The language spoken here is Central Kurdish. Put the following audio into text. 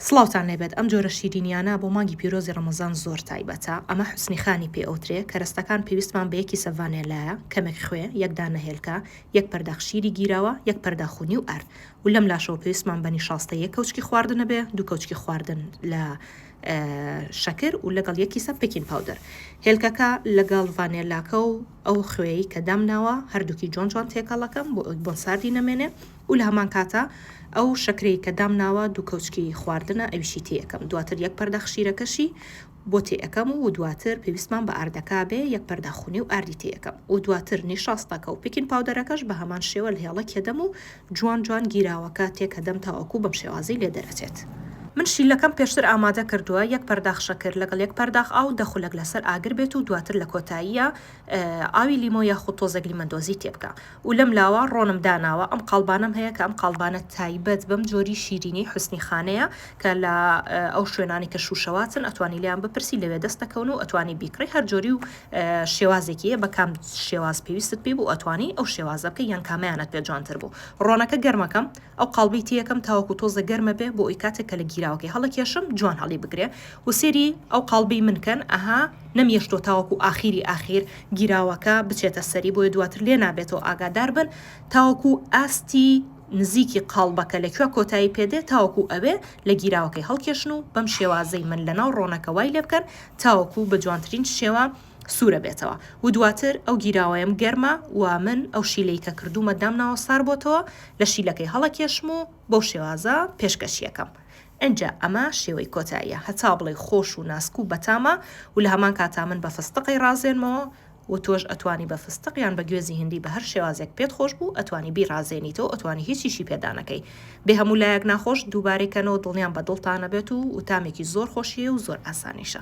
سڵاوتان لێبێت ئەم جۆرە شیرینیانە بۆ مانگی پیرۆزی ڕەمەزان زۆر تایبەتە ئەمە حوسنی خانی پێ ئەوترێ کەرەستەکان پێویستمان بە یەک کیسە ڤانێلایە کەمێک خوێ یەک دانە هێلکە یەک پەرداخ شیری گیراوە یەک پەرداخ و نیو ئەرد و لەم لاشەوە پێویستمان بە نیشاستەی یەک کەوچکی خواردنە بێ دوو کەوچکی خواردن لە شەکر و لەگەڵ یەک کیسە پکین پاودەر هێلکەکە لەگەڵ ڤانێلاکە و ئەو خوێیەی کە دامناوە هەردووکی جوان جوان تێکەڵ ئەکەم بۆ ئەوەی بۆن ساردی نەمێنێ و لە هەمان کاتا ئەو شەکرەی کە دامناوە دوو کەوچکی خواردنە ئەویشی تێ ئەکەم دواتر یەک پەرداخ شیرەکەشی بۆ تێ ئەکەم و دواتر پێویستمان بە ئاردەکە بێ یەک پەرداخ و نیو ئاردی تێ ئەکەم و دواتر نیشاستەکە و پیکین پاودەرەکەش بە هەمان شێوە لە هێڵەک یەدەم و جوان جوان گیراوە کاتێک کە دەم تاوەکو بەم شێوازەی لێ دەرئەچێت. من شیلەکەم پێشتر ئامادە کردوە یەک پەرداخ شەکر لەگەڵ یەک پەرداخ ئاو دە خولەک لەسەر ئاگر بێت و دواتر لە کۆتاییە ئاوی لیمۆ یاخود تۆزێک لیمەندۆزی تێ بکە و لەم لاوە ڕۆنم داناوە ئەم قاڵبانەم هەیە کە ئەم قاڵبانە تایبەت بەم جۆری شیرینی حوسنی خانەیە کە لە ئەو شوێنانەی کە شوشەواتن ئەتوانی لێیان بپرسی لەوێ دەست دەکەون و ئەتوانی بیکڕی هەر جۆری و شێوازێکی یە بە کام شێواز پێویستت پێ بوو ئەتوانی ئەو شێوازە بکەی یان کامەیانت پێ جوانتر بوو ڕۆنەکە گەرمەکەم ئەو قاڵبەی تێیەکەم تاوەکو تۆزە گەرمە بێ بۆ ئەوی کاتێک کە لە گیراوەکەی هەڵەکێشم جوان هەڵی بگرێ و سێری ئەو قاڵبەی من کەن ئەها نەمیێشتۆ تاوەکو ئاخیری ئاخیر گیراوەکە بچێتە سەری بۆیە دواتر لێ نابێتەوە ئاگادار بن تاوەکو ئاستی نزیکی قاڵبەکە لە کوێ کۆتایی پێ دێ تاوەکو ئەوێ لە گیراوەکەی هەڵکێشن و بەم شێوازەی من لەناو ڕۆنەکە وای لێ بکەن تاوەکو بە جوانترین شێوە سوورە بێتەوە و دواتر ئەو گیراوەیەم گەرمە و من ئەو شیلەی کە کردوومە دامناوە سار بۆتەوە لە شیلەکەی هەڵەکێشم و بەو شێوازە پێشکەشیەکەم ئنجا ئەمە شێوەی کۆتاییە هەتا بڵێی خۆش و ناسک و بەتامە و لە هەمان کاتا من بە فستقی ڕازێنمەوە و تۆش ئەتوانی بە فستق یان بە گوێزی هندی بە هەر شێوازێک پێت خۆش بوو ئەتوانی بیڕازێنیتەوە ئەتوانی هیچیشی پێدا نەکەی بێ هەموو لایەک ناخۆش دووبارەی کەنەوە دڵنیام بە دڵتانە بێت و و تامێکی زۆر خۆشیی و زۆر ئاسانیشە.